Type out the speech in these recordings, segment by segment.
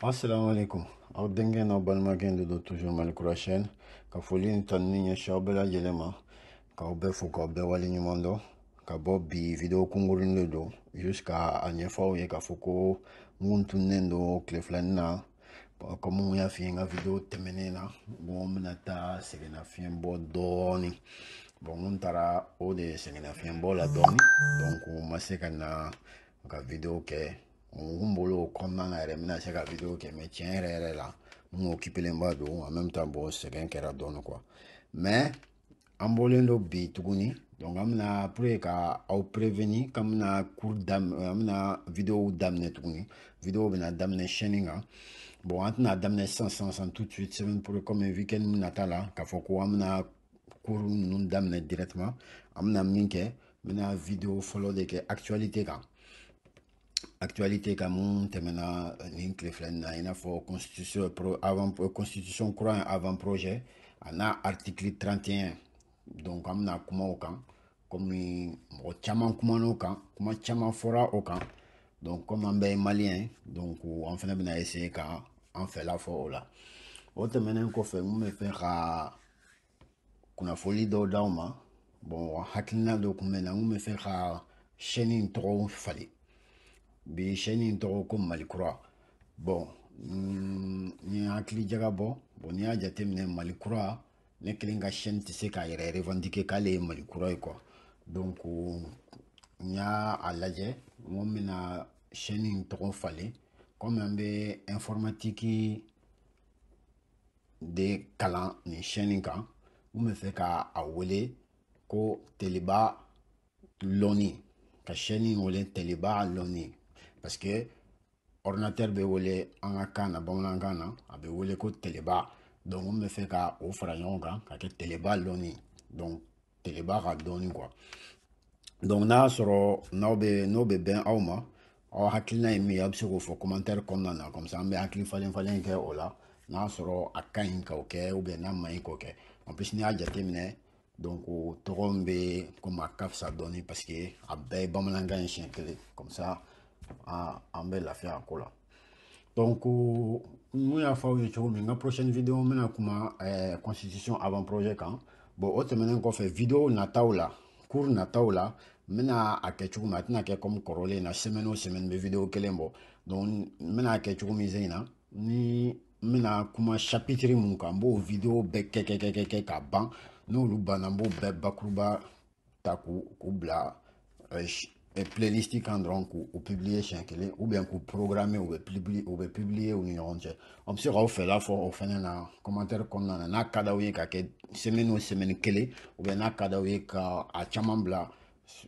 asalaamaaleykum aw denkɛ n'aw balimakɛ de don toujours mali kura chaîne ka foli ni tanuni ɲɛsin aw bɛɛ lajɛlen ma k'aw bɛɛ fo k'aw bɛɛ wale ɲuman dɔn ka bɔ bi video kunkurunin de don juste k'a ɲɛfɔ aw ye k'a fɔ ko n kun tununnen don tile fila in na kɔmi n y'a f'i ye n ka video tɛmɛnen na bon n bɛna taa sɛgɛnnafiɲɛbɔ dɔɔnin bon n taara o de sɛgɛnnafiɲɛbɔ la dɔɔnin donc n ma se ka na ka video kɛ N kun bolo o kɔnɔna na yɛrɛ n bɛna se ka video kɛ mais tiɲɛ yɛrɛ yɛrɛ la n kun occupélenba don en même temps bon sɛgɛn kɛra dɔɔni quoi mais an bɔlen don bi tuguni donc an bɛna pour ka aw prévenir k'an bɛna cours daminɛ an bɛna videow daminɛ tuguni video bɛna daminɛ chaîne kan bon an tɛna daminɛ sisan sisan sisan tout de suite semaine pour comme weekend nata la k'a fɔ ko an bɛna cours ninnu daminɛ directement an bɛna min kɛ n bɛna video fɔlɔ de kɛ actualité kan actualité kan min tɛmɛna euh, nin tile fila nin na i n'a fɔ constitution pro avant euh, constitution kura in avant projet a n'a article 31 donc an bɛna kuma o kan komi mɔgɔ caman kumana o kan kuma caman fɔra o kan donc komi an bɛɛ ye maliyɛn ye donc an fana bɛna essayer ka an fɛla fɔ o la o tɛmɛnen kɔfɛ n kun bɛ fɛ ka kunnafoli dɔw d'aw ma bon hakilina dɔ kun bɛ n na n kun bɛ fɛ ka chaîne in tɔgɔ falen bi chaîne in tɔgɔ ko mali kura bon n ye hakili jagabɔ bon n'i y'a jateminɛ mali kura ne kelen ka chaîne tɛ se k'a yɛrɛ revendiquer k'ale ye mali kura ye quoi donc n y'a lajɛ n ko n bɛna chaîne in tɔgɔ falen kɔmi an bɛ informatique de kalan nin chaîne kan n bɛ fɛ ka a wele ko teliba lɔni ka chaîne in wele teliba lɔni parce que ordinateur bɛ wele an ka kan na bamanankan na a bɛ wele ko teliba donc n bɛ fɛ ka o fara ɲɔgɔn kan ka kɛ teliba lɔni donc teliba ka dɔnni quoi donc n'a y'a sɔrɔ n'aw bɛ n'o bɛ bɛn aw ma aw hakilina ye min ye aw bɛ se k'o fɔ commentaire kɔnɔna na comme ça an bɛ hakili falen falen kɛ o la n'a sɔrɔ a ka ɲi k'o kɛ ou bien n'a man ɲi k'o kɛ en plus n'i y'a jateminɛ donc o tɔgɔ min bɛ komi a ka fisa dɔɔni parce que a bɛɛ ye bamanankan ye siɲɛ kelen comme ça an bɛ lafiya a ko la. donc n kun y'a fɔ aw ye cogo min n ka prochaine video n bɛna kuma eh, constitution avant projet kan bon o tɛmɛnen kɔfɛ video nataw la cours nataw la n bɛna a kɛ cogo min a tɛna kɛ comme kɔrɔlen na semaine o semaine n bɛ video kelen bɔ donc n bɛna a kɛ cogo min sen in na ni n bɛna kuma chapitre min kan n b'o video bɛɛ kɛ kɛ kɛ kɛ kɛ ka ban n'olu banna n b'o bɛɛ bakuruba ta k'u u bila euh, euh, playlist kan dɔrɔn k'u publier siɲɛ kelen ou bien k'u programmer u bɛ publier u bɛ publier u ni ɲɔgɔn cɛ aw bɛ se k'aw fɛla fɔ o fɛnɛ na commentaire kɔnɔna na n'a ka d'aw ye ka kɛ semaine o semaine kelen ou bien n'a ka d'aw ye ka a caman bila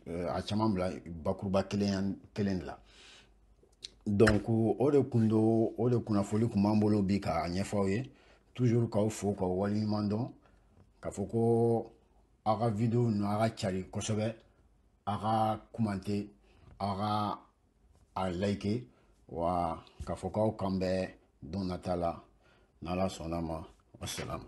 euh, a caman bila bakuruba kelen kelen de la donc o de kun do o de kunnafoli kun b'an bolo bi k'a ɲɛfɔ aw ye toujours k'aw fo k'aw waleɲuman dɔn k'a fɔ ko aw ka video ninnu aw ka cari kosɛbɛ aw ka commenter aw ka a liker wa k'a fɔ k'aw k'an bɛn don nata la n'Ala sɔnn'a ma wasalamu